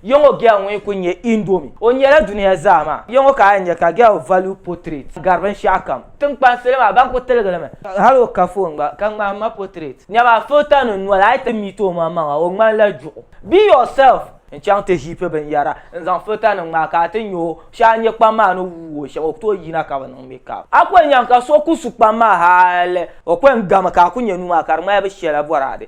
Yɔŋɔ Gɛl ŋun kuli nyɛ Indomi, o nyɛla duniya zaa maa yɔŋɔ ka a yɛn nya ka Gɛl Value Portrait gari binshɛɣu kam. Tiŋkpan salo maa ban kuli tiligi li mi. Hali o ka foon gba ka ŋmahi ma portrait. Nyama filter nim noli a yi ti meet o maŋmaŋa o ŋmani la juɣu. Be yourself. N chaŋ ti heapi binyɛra n zaŋ filter nim ŋmahi ka a ti nya o. Shɛli a nya kpam maa ni wuui o shɛm o ku tooi yina ka bi niŋ makeup. A ku yɛn nyaŋ ka so ku su kpam maa hali o ku yɛn gami ka a ku nya nuu maa ka di ŋmani bi shɛla boraade.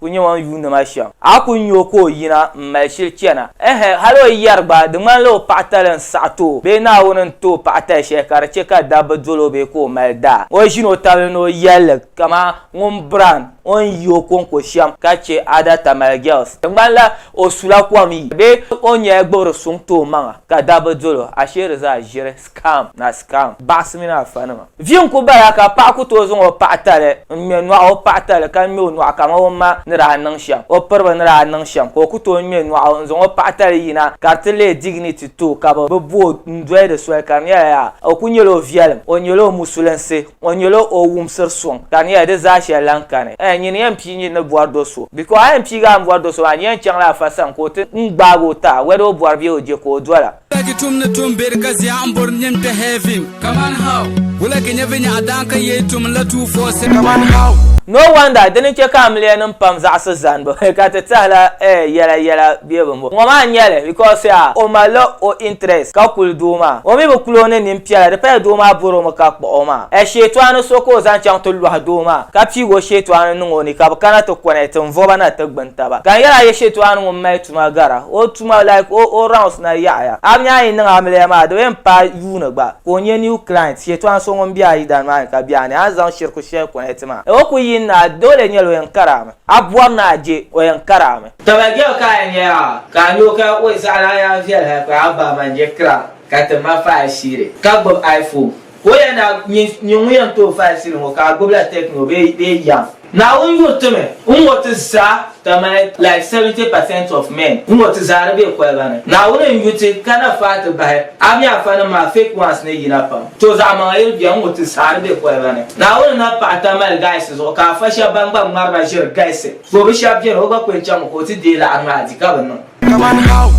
Ku nya o ni yuuni ma shɛm. A ku nya o ka o yina m-mali shili chana? Ɛhɛn, hal o yɛri gba, di ŋmanila o paɣitali n-saɣi ti o bee Naawuni n-ti o paɣitali shɛli ka di chɛ ka dabba dol o bee ka o mali daa. O ʒin o tabili ni o yɛlli kaman ŋun biran o ni yi o kɔŋko shɛm ka chɛ Ada Tamale Girls. Di ŋmanila o sula kom yi bee o nyɛla gbibiri suŋ ti o maŋa ka dabba dol o. Ashee di zaa ʒiri. Scam na scam baɣisi mini afa nima. Vi n ku bala ka paɣa ku tooi zaŋ o paɣa tali n ŋme nɔɣu o paɣa tali ka ŋme o nɔɣu kaman o ma ni daa niŋ shɛm o piriba ni daa niŋ shɛm ka o ku tooi ŋme nɔɣu n zaŋ o paɣa tali yina ka di ti leei dignity to ka bi bi bo n doli di soli ka di nyɛla yaa o ku nyɛla o viɛlim o nyɛla o musulinsi o nyɛla o wumsiri suŋ ka di nyɛla di zaa shɛli lahi kani ɛɛh nyini yɛn pii nyini ni bɔri do so because a yɛn piigi a ni bɔri do so maa di yɛn chaŋla afa sani ka o ti n gbaagi o taai whether o bɔri bee o je ka o dola Wulagi tum ni tum beri ka zia n bori nim te heaven. Kaman how? Wulagi nyɛ vinyaɣa daan ka yei tum la two four seven. Kaman how? No wonder dini che ka amiliya nim pam zaɣisi zanibu ka ti tahila eh yela yela be bi mo ŋɔ maa nyɛli because ya o malila o interest ka kuli doo maa o mi bi kuli o ni nin piɛla di paya doo maa bori o mi ka kpuɣi o maa eh shetoani so ka o zaŋ chaŋ ti lɔhi doo maa ka piigi o shetoani niŋ o ni ka bi kana ti connect n voba na ti gbuni taba ka n yela ye shetoani ŋun mali tuma gara o tuma like o o rounds na yaɣiya. Abini a yi niŋ amiliya maa di bi yɛn paai yuuni gba ka o nyɛ new client shɛtɔɣa so ŋun bɛ a yidana maa ni ka bɛ a ni a zaŋ shiriku shɛli connect maa o ku yini ni a doole nyɛli o yɛn kari a mi a bɔri ni a je o yɛn kari a mi. Taba girl ka a yɛn nyɛ yaa ka a nyoo ka oi zaɣa lana yaa viɛli hali paai a ba man je kira ka ti ma faai shiri ka gbubi iPhone. Ka o yɛn daa nyɛ nyini ŋun yɛn tooi faai sili ŋɔ ka a gbubila techno bee bee yam. Naawuni yuri ti mi n ŋɔ ti zaa ka mali like 70 percent of men n ŋɔ ti zaa di be koliba ni. Naawuni n yu ti ka na faai ti bahi a mi afa nim maa fake ones ni yina pam. To zaɣi maŋa yiri bɛni n ŋɔ ti zaa di be koliba ni. Naawuni na paɣi ta mali guys zuɣu ka afa shɛb ban gba ŋmari na ʒiri galisi. To bi shɛb bɛni o gba ku yɛn chaŋ mi ka o ti deei laɣiri maa di ka bi niŋ. Kaman how?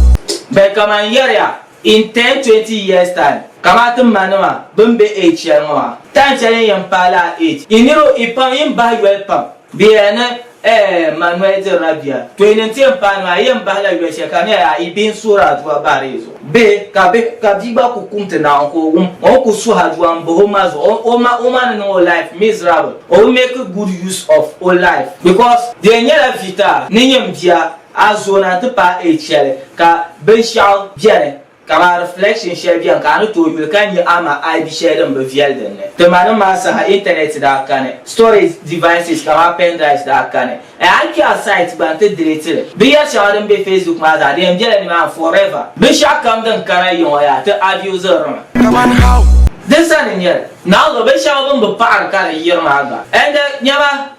Bɛ kaman yɛri ya In ten, twenty years time, kamaa ti ma nima bini be age shɛli ŋɔ maa, time shɛli n yɛn paai laa age, yi niriba yi pam yin bahi yoli pam. Bɛ yɛla ni eh ma noli dirila bia, to yi ni ti yɛn paai nima yi yɛn bahi la yoli shɛli ka di nyɛla yaa yi bihi n suhiri aduwa bahiri yi zuɣu. Bihi ka bihi ka bia gba ku kumti naawuni ka o wum o ni ku suhi aduwa n bahi o ma zuɣu o ma o ma ni niŋ o life miserable o bi make good use of o life because di yɛn nyɛla vita ni nyɛm bia A zona ti paai A cheli ka binshaɣu beni kaman reflection sheli beni ka a ni tooi yuli ka nya ama a bi sheli din bi viɛli din ni. Ti manim maa saha internet daa kani. Storage devices kaman pen drives daa kani. N a yi kpe a site gba nti delete li. Binyeri sheŋa din be facebook maa zaa di yɛn bela nimaani forever. Binshaɣu kam din kana yiŋɔ yaa ti abuse ri mi. Kaman how? Din sani n nyeli. Naawuni binshaɣu bini bi paɣiri ka di yiri maa gba. Ende nyama.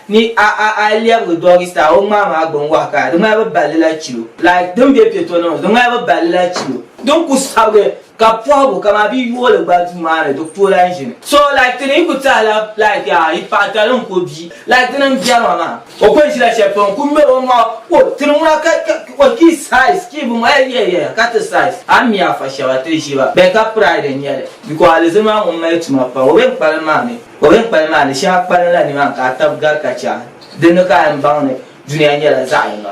Ni a a a yi lɛbigi doggy style o ŋmaa maa gbun wahi ka di ŋmani bi balli la chilo. Like din be piɛ tɔni ŋɔ di ŋmani bi balli la chilo. Din ku sabigi ka pɔhigu kaman bɛ yooli gba duu maa ni di ku lahi ʒini. So like ti ni yi ku tahi la like yaa yi paɣa tali n ku bia like dini n bɛri ma maa. O ku ni ʒila shɛli pam n ku ŋmeri o maŋa o ti ni ŋuna ka ka o ki size ki bi ma eyi eyi eyi ka ti size a mi a fa shɛba ti ʒiba bɛ ka pride n nyɛli because alizilima ŋun mali tuma pam o bɛ ni kpalim maa mi. O mini kpali maa ni shɛŋa kpalinla nimaani ka a tabi gari ka chɛ a. Dinni ka a yɛn baŋ ni dunia nyɛla zaɣ yini.